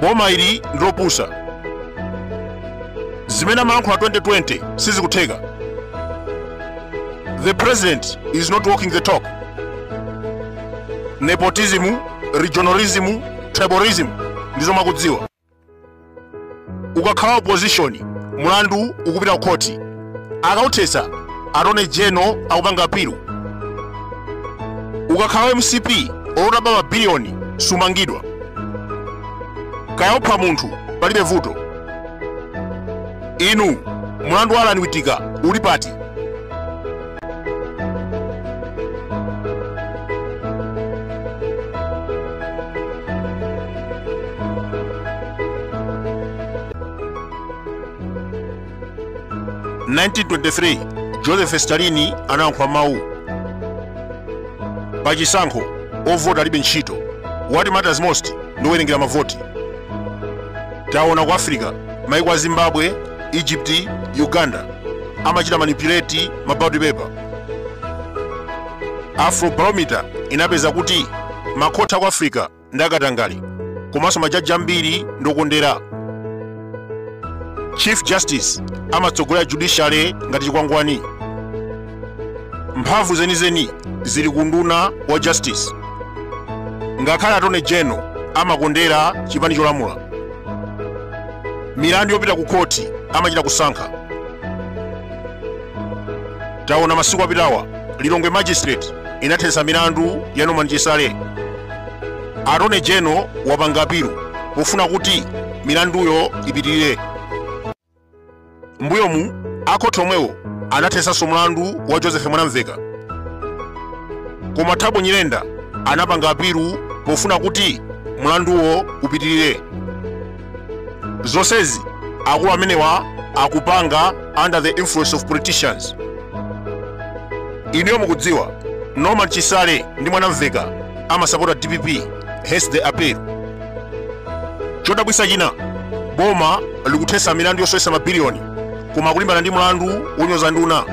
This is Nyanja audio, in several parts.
boma ili ndilopusa zimene amalankhula 2020 sizikutheka the president is not walking the talk nepotism regionalism tribalism ndizo mwakudziwa ukakhala wa opposition mulandu ukupita kukhoti akauthetsa attorney general akupanga apilu ukakhala mcp olo utaba mabiliyoni sumangidwa kaya opha munthu palibe vuto inu mulandu wa Alan Witika uli pati 1923 joseph stalin anayankhula mawu pa chisankho ovota alibe ntchito what matters most ndi kuwerengera mavoti taona ku africa maiko a zimbabwe egypt uganda amachita manipulate ma ballot paper afrobarometer inapeza kuti makhoti aku africa ndi akatangale komanso majaji ambiri ndi okondera chief justice amatsogolera judiciary ngati chikwangwani mphamvu zenizeni zili ku nduna wa justice ngakhale attorney general amakondera chipani cholamula milandu yopita ku khoti amachita kusankha taona masiku apitawa lilongwe magistrate inathetsa milandu ya norman chisale attorney general wapanga apilu pofuna kuti milanduyo ipitirire mbuyomu akhoti omwewo anathetsanso mlandu wa joseph mwanamveka koma thabo nyirenda anapanga apilu pofuna kuti mlanduwo upitirire zonsezi akulu amenewa akupanga under the influence of politicians inuyo mukudziwa norman chisale ndi mwanamveka amasapota dpp hence the appeal chodabwitsa china boma likuthetsa milandu yosowetsa mabiliyoni koma kulimbana ndi mlandu wonyoza nduna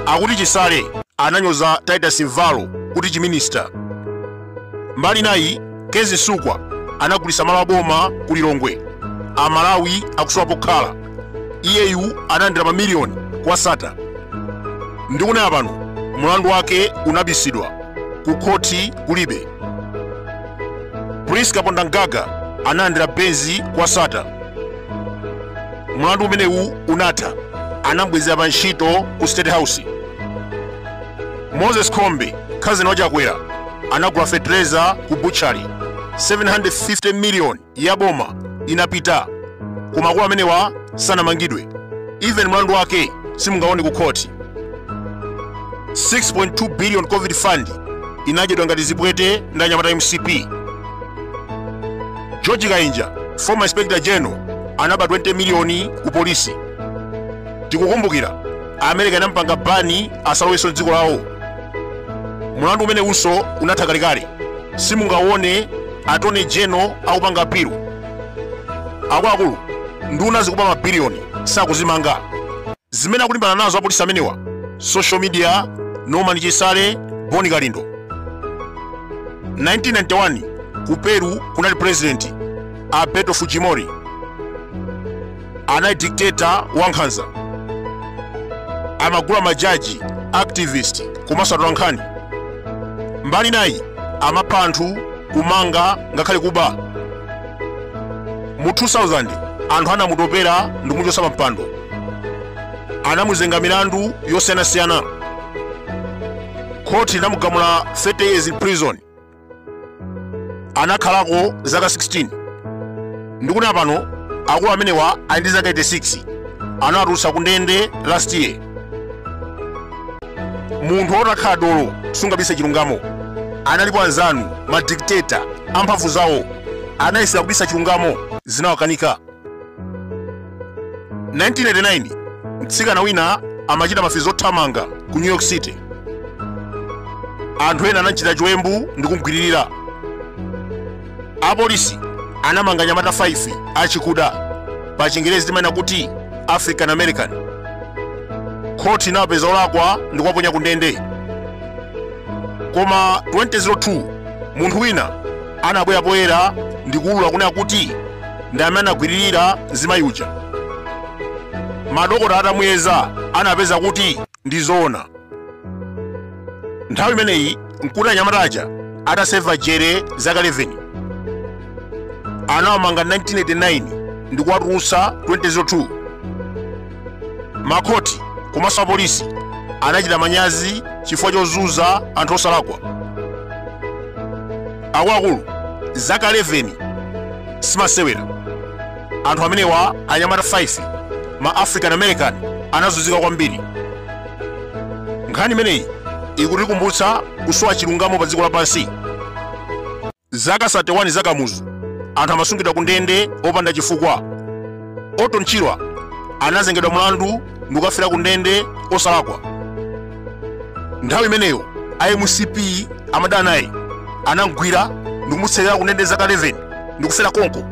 akuti chisale ananyoza titus mvalo kuti chiminista mbali nayi Kezzie Msukwa anagulitsa malo aboma ku lilongwe amalawi akusowa pokhala iyeyu analandira mamiliyoni kwa sata ndikunena pano mlandu wake unabisidwa ku khoti kulibe priska pondangaga analandira benzi kwa sata mlandu umenewu unatha anambwezera pa ntchito ku state house moses khombe khazini wa Chakwera anagula fetereza ku butchery 750 miliyoni ya boma inapita koma akulu amenewa sanamangidwe even mlandu wake simungaone ku khoti 6.2 billion covid fund inadyedwa ngati zipwete ndi anyamata mcp george kainja former inspector general anaba 20 miliyoni ku polisi tikukumbukira america inampanga bani asalowenso mdziko lawo mulandu umenewunso unatha kalekale simungaone attorney general akupanga apilu akuluakulu nduna zikuba mabiliyoni sakuzimanga zimene akulimbana nazo apolisi amenewa social media norman chisale boni kalindo 1991 ku peru kunali president alberto fujimori anali dictator wankhanza amagula majaji activist komanso atolankhani mbali nayi amapha anthu kumanga ngakhale kuba mu 2000 anthu anamutopera ndi kumuchotsa pa mpando anamuzenga milandu yosiyanasiyana khoti linamugamula 30 years in prison anakhalako zaka 16 ndikunena pano akulu amenewa ali ndi zaka 86 anawatulutsa ku ndende last year munthu utakhala dolo sungabise chilungamo analipo anzanu madikiteta amphamvu zawo anayesera kubisa chilungamo zinawakanika 1989 mtsikana wina amachita mafizi othamanga ku new york city anthu ena anamchita chiwembu ndi kumgwiririra apolisi anamanga anyamata 5 achikuda pa chingerezi timanena kuti african american khoti inawapeza olakwa ndi kuwaponya ku ndende koma 2002 munthu wina anabwera poyera ndi kuulula kunena kuti ndi amene anagwiririra mzimayi uja madokota atamuyeza anapeza kuti ndi zoona nthawi imeneyi mkuti anyamata aja ataseva jere zaka 11 anawamanga 1989 ndi kuwatulutsa 2002 makhoti komanso apolisi anachita manyazi chifukwa chozunza anthu osalakwa akuluakulu zaka 11 simasewera anthu amenewa anyamata 5 ma african american anazunzika kwambiri nkhani imeneyi ikutikumbutsa kusowa chilungamo pa dziko lapansi Zaka 31 za Kamuzu, anthu amasungidwa kundende opanda chifukwa. Orton Chirwa anazengedwa mlandu ndikukafera kundende osalakwa. Nthawi imeneyo a mcp amadana naye anamgwira ndikumutsekera kundende zaka 11 ndikufera konko.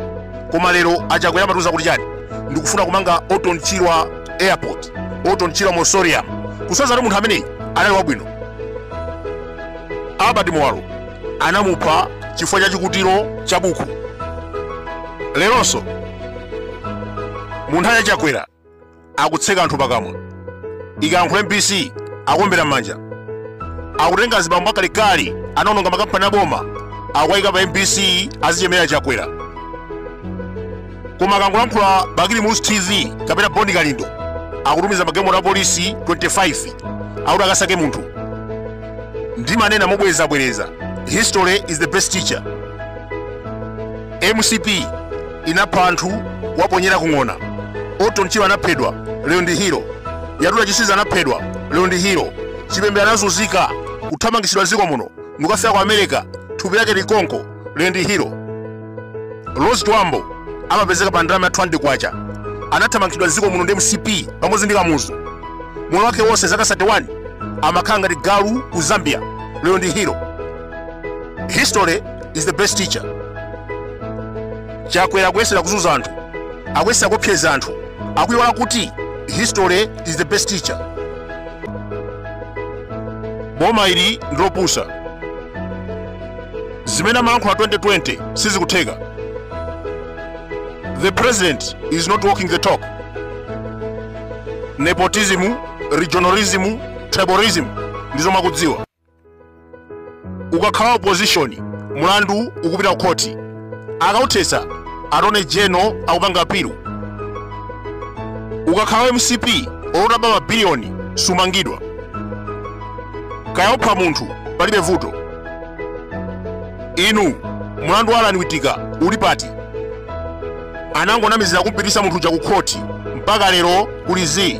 Koma lero Achakwera amatiuza kuti chani? Ndikufuna kumanga Orton Chirwa Airport, Orton Chirwa Mausoleum. Kusonyeza kuti munthu ameneyi anali wabwino. Albert Muwalo anamupha chifukwa cha chikutiro cha buku leronso mu nthawi ya chakwera akutseka anthu pakamwa ikayankhula mbc akuombera m'manja akutenga zibambo akalekale anaononga makampani aboma akuwayika pa mbc azichemerera chakwera koma akangolankhula bakili muluzi tv kapena boni kalindo akutumiza magalimoto a polisi 25 akuti akasake munthu ndimanena mobwerezabwereza history is the best teacher mcp inapha anthu kuwaponyera kung'ona orton chirwa anaphedwa lero ndi hero yatuta chisiza anaphedwa lero ndi hero chipembere anazunzika kuthamangitsidwa mdziko muno ndikukafera ku america thupi lake likonko lero ndi hero rose chibambo amapezeka pa ndalama ya 200 kwacha anathamangitsidwa mdziko muno ndi mcp pamodzi ndi kamuzu moyo wake wonse zaka 31 amakhala ngati galu ku zambia lero ndi hero history is the best teacher chakwera akuyesera kuzunza anthu akuyesera kuopseza anthu akuiwala kuti history is the best teacher boma ili ndilopusa zimene amalankhula 2020 sizikutheka the president is not walking the talk nepotism regionalism tribalism ndizo mukudziwa ukakhala opposition mulandu ukupita ku khoti akauthetsa attorney general akupanga apilu ukakhala wa mcp olo utaba mabiliyoni sumangidwa kaya upha munthu palibe vuto inu mulandu wa allan witika uli pati anangonamizira kumupititsa munthu uja ku khoti mpaka lero kuli zii